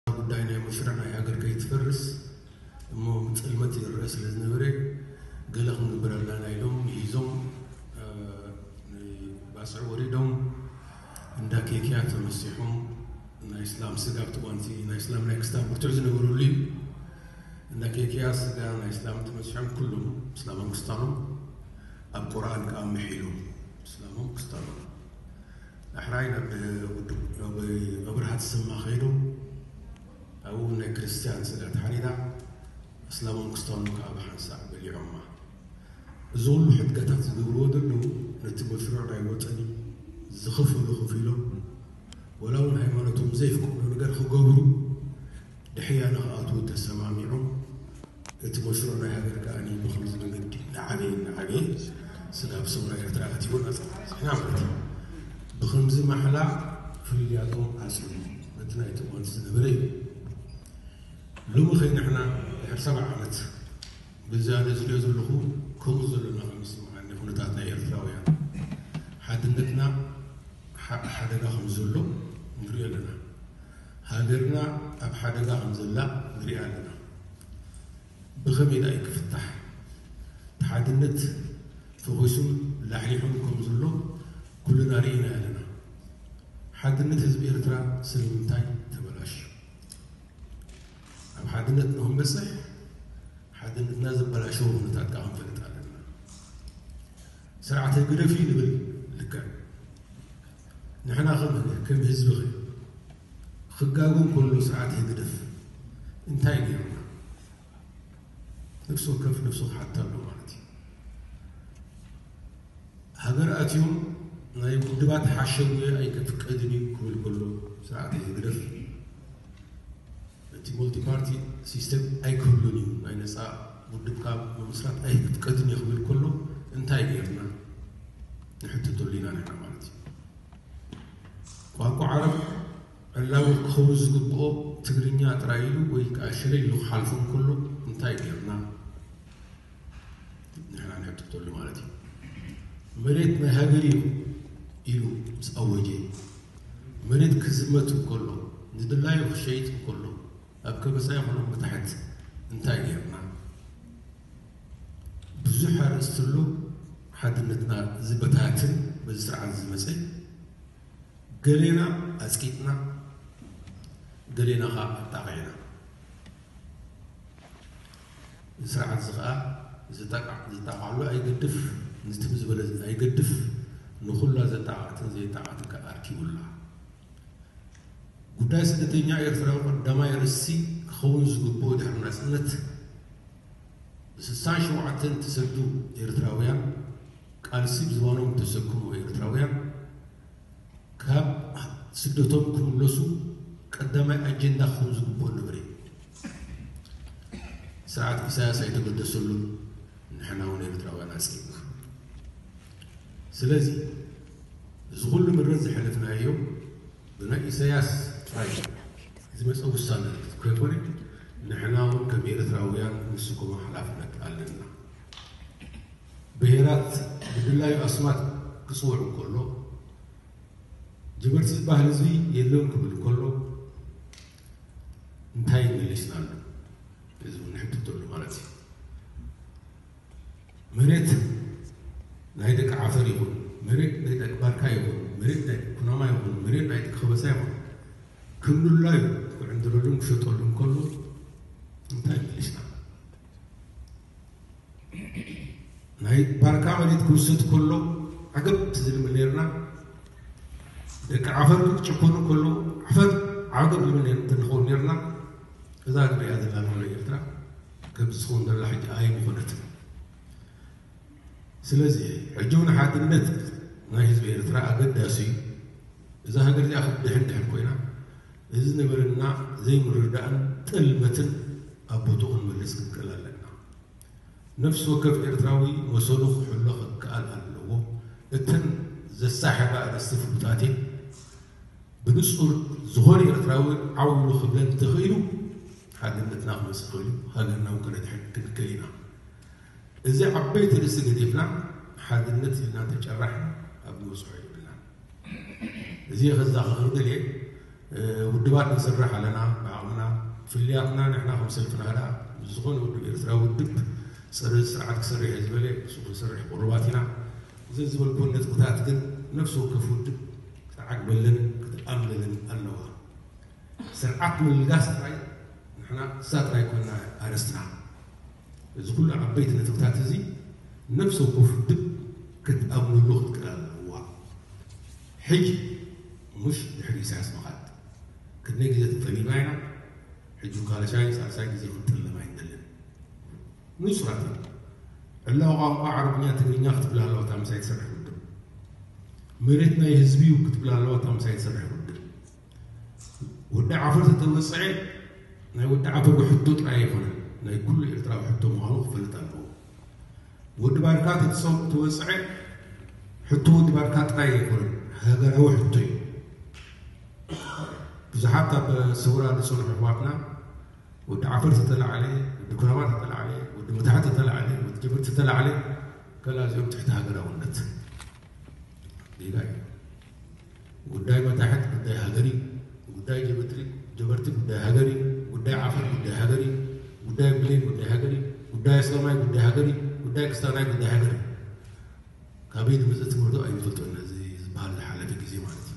እታ ጉዳይ ናይ መስርሕ ናይ ሃገር ከይትፈርስ እሞ ብጽልመት ይረኣ ስለ ዝነበረ ገለ ክንግበር ኣላና ኢሎም ምሂዞም ንባጽዕ ወሪዶም እንዳ ኬክያ ተመሲሖም ናይ እስላም ስጋ ኣብቲ ጓንቲ ናይ እስላም ናይ ክስታን ብርቱዕ ዝነበረሉ እዩ እንዳ ኬክያ ስጋ ናይ እስላም ተመሲሖም ኩሎም እስላሞም ክስታኖም ኣብ ቁርኣን ከዓ ምሒሎም እስላሞም ክስታኖም ዳሕራይ ናብ ውድብ ኣብርሃ ተሰማ ከይዱ ኣብኡ ውን ናይ ክርስትያን ስድራ ተሓኒና ኣስላሞም ክስታኖም ከኣ ብሓንሳእ በሊዖማ። እዚ ኩሉ ሕድገታት ዝገብርዎ ዘለዉ ነቲ መስርዕ ናይ ወጠን ዝኸፈሉ ከፊሎም ወላ ውን ሃይማኖቶም ዘየፍቅዶ ነገር ክገብሩ ድሕያ ንክኣትዉ ተሰማሚዖም እቲ መሽሩዕ ናይ ሃገር ከኣ ብኸምዚ መንገዲ እናዓበየ እናዓበየ ስጋብ ሰውራ ኤርትራ ኣትይዎ ናጻ ተበጺሕና ማለት እዩ። ብኸምዚ ማሕላ ፍልልያቶም ዓጽዮም በቲ ናይ ጥልመት ዝነበረ እዩ። ሎሚ ከይ ንሕና ድሕሪ ሰብዓ ዓመት ብዛ ነጽልዮ ዘለኹ ከምኡ ዘሎና ከም ዝስምዓኒ ኩነታት ናይ ኤርትራውያን ሓድነትና ሓሓደጋ ከም ዘሎ ንርእዮ ኣለና። ሃገርና ኣብ ሓደጋ ከም ዘላ ንሪኣ ኣለና ብኸመይ ድኣ እዩ ክፍታሕ እቲ ሓድነት ፈኺሱን ላሕሊሑን ከም ዘሎ ኩልና ሪኢናዮ ኣለና ሓድነት ህዝቢ ኤርትራ ስለምንታይ ተበላሽዩ ኣብ ሓድነት ንኽንበጽሕ ሓድነትና ዘበላሸዉ ኩነታት ድኣ ክንፈልጥ ኣለና። ስርዓት ህግደፍ እዩ ንብል ልክዕ ንሕና ከም ህዝቢ ኸ ክጋጎን ከሎ ስርዓት ህግደፍ እንታይ ገይሩና ነፍሲ ወከፍ ነፍሱ ክሓታ ኣሎ ማለት እዩ ሃገር ኣትዮም ናይ ውድባት ሓሸውየ ኣይክፍቀድን እዩ ክብል ከሎ ስርዓት ህግደፍ እቲ ሙልቲ ፓርቲ ሲስተም ኣይክህሉን እዩ፣ ናይ ነጻ ውድብካ ምምስራት ኣይክትከድን እየ ክብል ከሎ እንታይ ገይርና ንሕትተሉ ኢና ነይርና ማለት እዩ። ቋንቋ ዓረብ ዕላዊ ክኸውን ዝግብኦ ትግርኛ ጥራይ ኢሉ ወይ ከዓ ሽረ ኢሉ ክሓልፎ እንከሎ እንታይ ገይርና? ንሕና ንሕትተሉ ማለት እዩ መሬት ናይ ሃገር እዩ ኢሉ ምስ ኣወጀ መሬት ክዝመት እንከሎ ንድላዩ ክሸይጥ እንከሎ ኣብ ከበሳ ይኹን መታሕት እንታይ ጌርና ብዙሕ ኣርእስቲ ኣሎ ሓድነትና ዝበታትን በዚ ስርዓት ዝመፀ ገሌና ኣፅቂጥና ገሌና ከዓ ኣጣቂዕና እዚ ስርዓት እዚ ከኣ ዝጠቃዕ ዝጣቃዓሉ ኣይገድፍ እዚ ትም ዝበለ ኣይገድፍ ንኹላ ዘጣቃዕትን ዘይጣቃዕትን ከኣ ኣርኪቡላ። ጉዳይ ስደተኛ ኤርትራዊ ቀዳማይ ኣርእስቲ ክኸውን ዝግብኦ ድሕሪ ናጽነት ብስሳን ሸውዓተን እተሰዱ ኤርትራውያን ቃልሲ ብዝባኖም እተሰክሙ ኤርትራውያን፣ ካብ ስደቶም ክምለሱ ቀዳማይ ኣጀንዳ ክኸውን ዝግብኦ ነበረ እዩ። ስርዓት ኢሳያስ ኣይተገደሰሉን፣ ንሕና እውን ኤርትራውያን ኣጽቂጥና። ስለዚ እዚ ኩሉ ምረት ዝሐለፍናዮ ብናይ ኢሳያስ ጥራይ ዝመጸ ውሳነ ከይኮነ ንሕና እውን ከም ኤርትራውያን ንስከሞ ሐላፍነት ኣለና። ብሄራት ብድላዩ ኣስማት ክጽውዕ እንከሎ፣ ጅብርት'ዚ ባህሊ'ዚ የለን ክብል እንከሎ እንታይ መሊስናሉ ህዝቢ ንሕትተሉ ማለት እዩ። መሬት ናይ ደቂ ዓፈር ይኹን፣ መሬት ናይ ደቂ ባርካ ይኹን፣ መሬት ናይ ኩናማ ይኹን፣ መሬት ናይ ደቂ ከበሳ ይኹን ክምሉላዩ ክዕንድረሉን ክሸጠሉን ከሎ እንታይ መሊስናሉ? ናይ ባርካ መሬት ክውስድ ከሎ ዓገብ ትዝልም ነርና ደቂ ዓፈር ክጨኮኑ ከሎ ዓፈር ዓገብ ዝብል እንተንኸውን ነርና እዛ ንሪኣ ዘለና ንብሎ ኤርትራ ከምዚ ዝኸውን ደላ ሕጂ ኣይምኾነት ስለዚ ሕጂ እውን ሓድነት ናይ ህዝቢ ኤርትራ ኣገዳሲ እዩ እዛ ሃገር እዚኣ ክትድሕን ድሕን ኮይና እዚ ንብርና ዘይምርዳእን ጥልመትን ኣብ ቦትኡ ክንምልስ ክንክእል ኣለና። ነፍሲ ወከፍ ኤርትራዊ መሰሉ ክሕሎ ክከኣል ኣለዎ። እተን ዘሳሕባ ኣርእስቲ ፍሉጣት እየን። ብንጹር ዝኾነ ኤርትራዊ ዓው ኢሉ ክብለን እንተኽኢሉ ሓድነትና ክመጽእ ይኽእል'ዩ፣ ሃገርና'ውን ከነድሕን ክንክእል ኢና። እዚ ዓበይቲ ርእሲ ገዲፍና ሓድነት ኢልና ተጨራሕና ኣብ ንበጽሖ የብልናን። እዚ ከዛኽር እደልየ ውድባት ንስራሕ ኣለና ብዓቕምና ፍልያትና ንሕና ከም ሰልፊ ናህዳ ምስ ዝኾነ ውድብ ኤርትራዊ ውድብ ጸረ እዚ ስርዓት ክሰርሕ እየ ዝበለ ንሱ ክንሰርሕ ቅሩባት ኢና። እዘን ዝበልኩወን ነጥብታት ግን ነፍሲ ወከፍ ውድብ ክትዓግበለን ክትኣምነለን ኣለዋ። ስርዓት ምልጋስ ጥራይ ንሕና እሳ ጥራይ ኮይና ኣርእስትና። እዚ ኩሉ ዓበይቲ ነጥብታት እዚ ነብሰ ወከፍ ውድብ ክትኣምነሉ ክትክእል ኣለዋ። ሕጂ ሙሽ ድሕሪ ኢሳያስ ምኻድ። ክንደይ ግዜ ተጠሊብና ኢና ሕጂ ካልሻይ ሳልሳይ ግዜ ክንጥለም ኣይንደልን። ንጹራት ኢና። ዕላዊ ቋንቋ ዓረብኛ ትግርኛ ክትብል ኣለዋ እታ ምሳይ ትሰርሕ ውድብ። መሬት ናይ ህዝቢ'ዩ ክትብል ኣለዋ እታ ምሳይ ትሰርሕ ውድብ። ወዲ ዓፈር ተተመፀዐ ናይ ወዲ ዓፈር ሕቶ ጥራይ ኣይኮነን ናይ ኩሉ ኤርትራዊ ሕቶ ምዃኑ ክፈልጥ ኣለዎ ወዲ ባርካ ተተወፀዐ ሕቶ ወዲ ባርካ ጥራይ ኣይኮነን ሃገራዊ ሕቶ እዩ ብዙሓት ኣብ ሰውራ ዝፀንሑ ኣሕዋትና ወዲ ዓፈር ተተላዕለ ወዲ ኩናማ ተተላዕለ ወዲ መታሕ ተተላዕለ ወዲ ጀብር ተተላዕለ ከላ እዚኦም ትሕቲ ሃገራውነት ጌጋ እዩ ጉዳይ መታሕት ጉዳይ ሃገር እዩ። ጉዳይ ጀበትሪ ጀበርቲ ጉዳይ ሃገር እዩ። ጉዳይ ዓፈር ጉዳይ ሃገር እዩ። ጉዳይ ብሌን ጉዳይ ሃገር እዩ። ጉዳይ ኣስላማይ ጉዳይ ሃገር እዩ። ጉዳይ ክስታናይ ጉዳይ ሃገር እዩ። ካበይ ዝመፀ ትምህርቱ ኣይንፈልጦን እዚ ዝበሃል ሓለፊ ግዜ ማለት እዩ።